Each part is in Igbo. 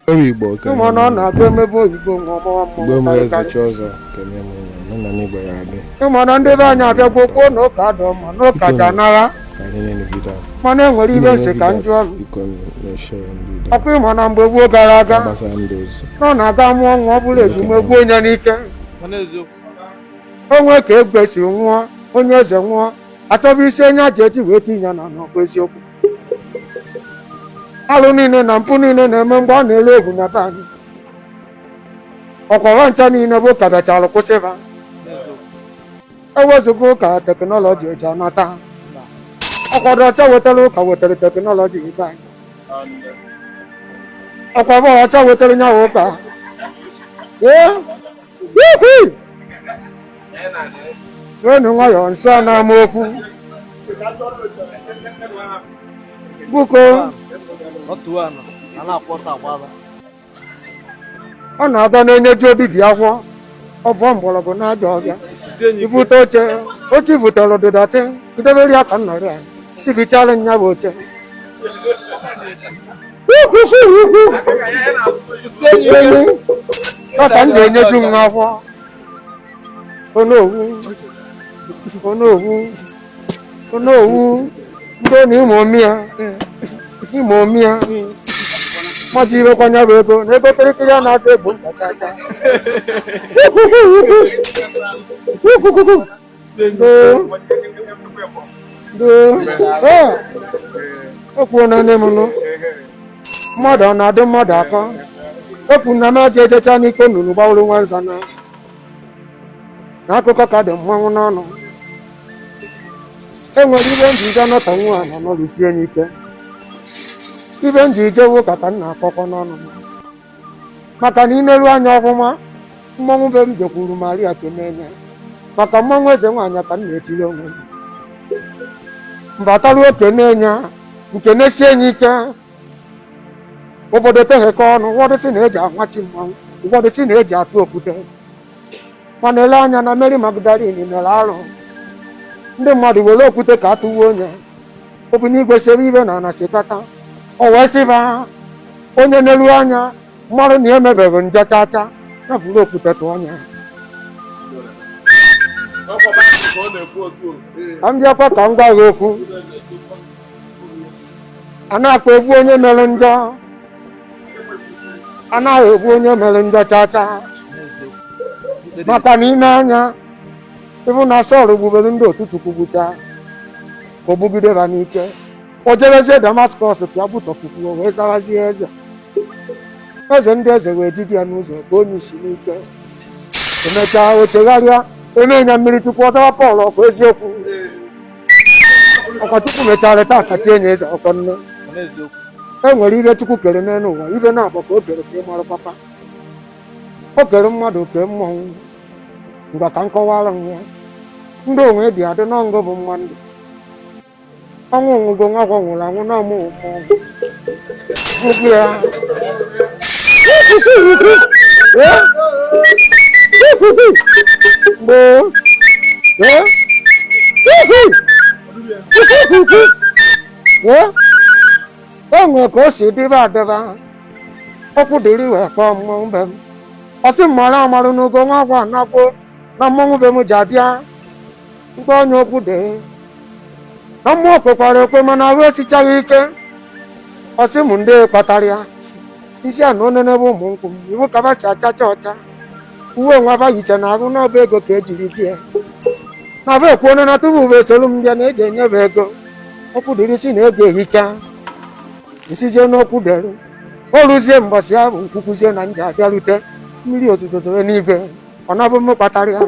Ọrụ Igbo ka Ụmụ nọ na-abịa emebe oyibo nwa ọmawa mmụọ Igbo mere eze chi ọzọ ka nye m ụlọ nọ na n'Igbo ya adị Ịma na ndị be anyị abịago kwuo na ụka adọ mma na ụka ji anara ka anyị nye n'obido a mana e nwere ibe m sị ka ndị ọrụ biko na-eshe ya ndị udo ọkwa ịma na mgbe gboo gara aga gbasara ndị ozu na ọ na-aga mụọ nwa ọ bụrụ ejima egbuo onye n'ike onwe ka egbe si nwụọ onye eze nwụọ achọba isi onye aja eji wee tinye ya n'ana ọ bụ eziokwu alụ niile na mpụ niile na-eme mgbe ọ na-elu egwu na be anyị ọkwa ba ncha niile bụ ụka bịachara kwụsịba ewezụga ụka teknọlọji eji anata ọkwa ndị ọcha wetara ụka wetara teknọlọji be anyị ọkwa ndị ọcha wetara nya bụ ụka ee n'enu nwayọọ nsọ a na-ama okwu bụko ọ na-aba n'onye ji obi gị akwọ ọvọ mgbọrọgwụ na-aja ọbịa ibute oche oche ibutere dị dirty idebere ya ka nnọrị ya sị bichara nya bụ oche Papa m ga-enyeju m n'afọ. Onowu. Onowu. Onowu. Ndị ọ na-ime omi ya. Ime omi ya. Mmadụ irekwa nya bụ ego na ego kịrịkịrị a na-asa egbo ntachacha. ekwuo na nne m nụ mmadụ ọ na-adị mmadụ akọ ekwu na m aja ejecha n'ike nnụnụ gbawụrụ nwa nza na na akụkọ ka dị mmanwụ n'ọnụ enwere ibe m ji ije nọta nwa a na nọrụsie n'ike ibe m ji jewe ụka ka m na-akọkọ n'ọnụ m maka na ineru anya ọfụma mmọnwụ be m jekwuru Maria kenene maka mmọnwụ eze nwaanyị a ka m na-etiri onwe m mbataruo okene ya nke na-esi enyi ike obodo teghekọ ọnụ ụfọdụ sị na eji amachi mmanwụ ụfọdụ sị na eji atụ okwute mana ele anya na Mary Magdalene mere arụ ndị mmadụ were okwute ka atụwa onye obinigwe sebe ibe n'ana sekata o wee sị ba onye neru anya maru na ya emebeghị njọ chacha ya buru okwute tụọ nya Ọkwa Baịbụl ka ọ na-ekwu otu o. Ee. ka m bịakwa ka m gwa gị okwu anakwa egbu onye mere njọ a naghị egbu onye mere njọ chacha maka na ị nee anya ị hụ na Sọl gbubere ndị otu Chukwu gbucha ka o gbugide ha n'ike o jebezie damaskọs ka ya gbutọpụkwuo wee zawazie eze eze ndị eze wee jide ya n'ụzọ ka onye isi n'ike emechaa o chegharịa e mee ya mmiri chukwu ọ zawa pọl ọkwa eziokwu ọkwa chukwu mechara taa ka chi enye eze ọkwa nne e nwere ihe chukwu kere n'elu ụwa ibe naabọ ka o kere ka ị mara papa o kere mmadụ kee mmọnwụ ngwa ka m kọwara m ya ndị onwe dị adị n'ọngụ bụ mma ndụ ọnwụ ugo nwa agwa nwụrụ anwụ na mmụọ ya gboo gboo o nwere ka o si dịba adịba okwudịrị wee kpọọ mmọnwụ be m ọ sị m mara amara n'ugo nwa agwa a na-akpọ na mmọnwụ be m ji abịa mkpe onye okwudịrị na mmụọ kwekwara ekwe mana ahụ esichaghị ike ọ sị m n'ihe kpatara ya isi a na-enene ụmụ nkwụ m ị hụ ka ba si achacha ọcha uwe nwa ba yicha n'ahụ na ọ bụ ego ka e jiri bie na ba ekwu onye na tupu ba esolu m bịa na e ji enye ba ego okwudịrị sị na ego ehika m sịzie n'okwudịrị o ruzie mbọsị ahụ m kwukwuzie na m ji abịarute mmiri ozuzo zoro n'igwe ọ na-abụ m kpatara ya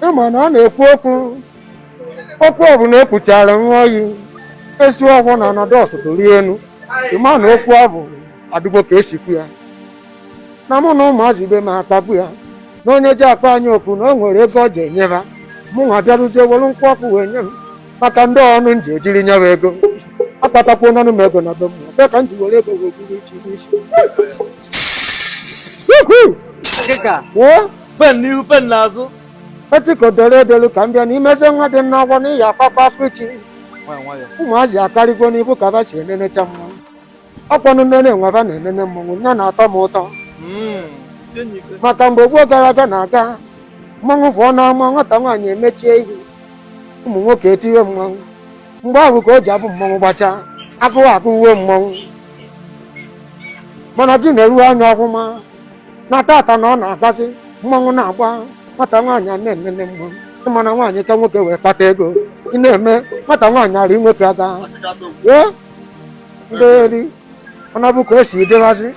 ị ma na ọ na-ekwu okwu okwu ọbụla e kwuchara nwa oyi esi ọgwụ na ọnọdụ ọsụtụ rie enu ị ma na okwu ọ bụ adịkwọ ka e si kwuo ya na mụ na ụmụazị ibe m akpago ya na onye ji akpọ anyị oku na o nwere ego ọ ji enye ba mụ nwa bịaruzie were nkwụ ọkụ wee nye m maka ndị ọnụ m ji ejiri nyewa ego akpatakwu n'ọnụ m ego na be m bịa ka m ji were ego wee buru iche n'isi Woohoo! Ọkịka. Woo! pen n'ihu pen n'azụ e chịkọ dere edelu ka m bịa n'imezi nwa dị m n'ọgbọ n'ihi akwakwa afọ ichi nwayọ nwayọ ụmụazị akarịgo n'ibu ka ba si enenecha mmọnwụ ọkwanụ nnene nwa ba na-enene mmọnwụ nne na-atọ m ụtọ Mm, sie nye ike maka mgbe gboo gara aga na-aga mmọnwụ pụọ n'ama nwata nwaanyị emechie ihu ụmụ nwoke etiwe mmọnwụ mgbe ahụ ka o ji abụ mmọnwụ gbachaa agụụ agụwe mmọnwụ mana gị neruo anya ọgwụma na tata na ọ na-agbazi mmanwụ na-agba nwata nwaanyị a na-enene mmanwụ ị mana nwaanyị ka nwoke wee kpata ego ị na-eme nwata nwaanyị ara nwoke aga ee ndị eri ọ na-abụ ka o si dịwazi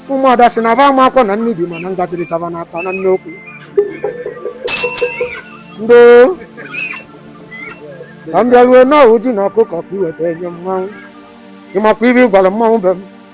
ụmụada si na ba ama akwụkwọ na nnibi mana ngaziri chaba na akpa na nne okwu ndị ka m bịaruo nu ọ bụ ji na ọkụkọ ka i weta enye mmanwụ ị makwa ibe ị gwara mmanwụ be m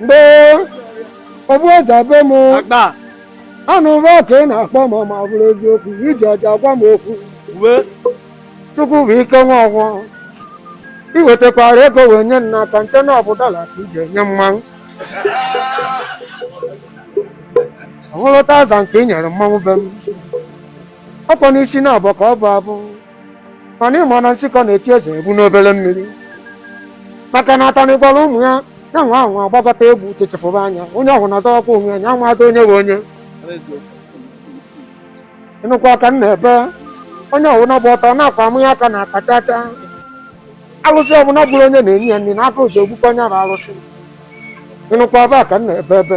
mgbe ogbu ọja be m anụ ụba ka ị na-akpọ m ma ọ bụrụ eziokwu i ji ọja gwa m okwu chukwu bụ ike nwa ọgwụ ị wetakwara ego wee nye nna aka nche na ọ bụ dọla ka i ji enye mmanwụ ọ bụrụ tazan ka ị nyere mmanwụ be m ọkwa n'isi na abọ ka ọ bụ abụ mana ị ma na nsịkọ na-echi eze bụ n'obere mmiri maka na atanị gwara ụmụ ya ya nwa ahụ agbagota egwu chechefụba anya onye ọbụla na-azọwakwa onwe ya ya amazi onye bụ onye ịnụkwa ka m na-ebe onye ọbụla gba ọtọ na-akwa amụ ya aka na aka chacha alụsị ọbụla gburu onye na-enye ya nri na aka oji ogbukọ onye bụ alụsị ịnụkwa ebe a ka m na-ebe ebe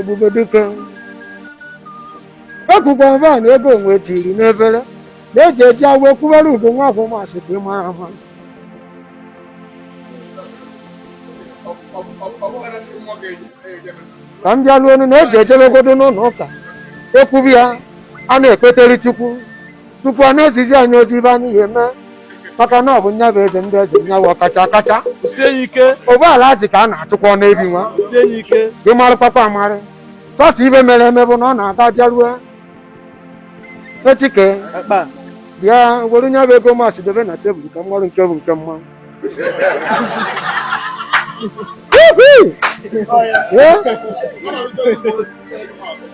ebube dike ekwukwa mba na ego onwe tiri n'ebere na-eji eji awa ekwubere ugo nwa afọ masị ka ị mara mma ka m bịaruo onu na eji ejebegodu n'ụlọ ụka ekwubi ya a na-ekpetere chukwu tupu a na-ezizi anyị ozi ibe anyị ya eme maka na ọ bụ nya bụ eze ndị eze nya bụ ọkacha akacha ọ bụ alaji ka a na-achụkwa n'ebi nwa gị marụkwakwa amarị sọsọ ibe mere eme bụ na ọ na-aga bịarue etike bịa were nya bụ ego masị debe na tebụl ka m marụ nke bụ nke mmanwụ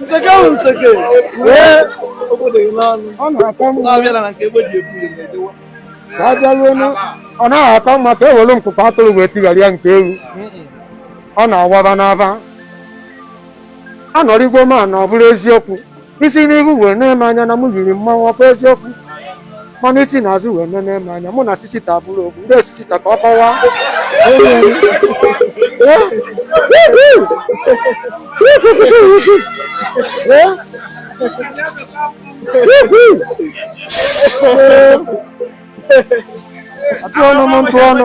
nseke ahụ nseke ọ na-aka mma abịala na nke egbe ji ebu ya na-edewa ka a bịaruonu ọ naghị aka mma ka e were nkụkọ atụrụ wee tigharịa nke ewu ọ na-awaba n'aba anọrịgbo ma na ọ bụrụ eziokwu i si n'ihu wee na-ene m anya na mụ yiri mmanwụ ọ kwa eziokwu mana i si n'azụ wee na-ene m anya mụ na sisita bụrụ otu ndị sisita ka ọ kọwaa atụ ọnụ m ntụ ọnụ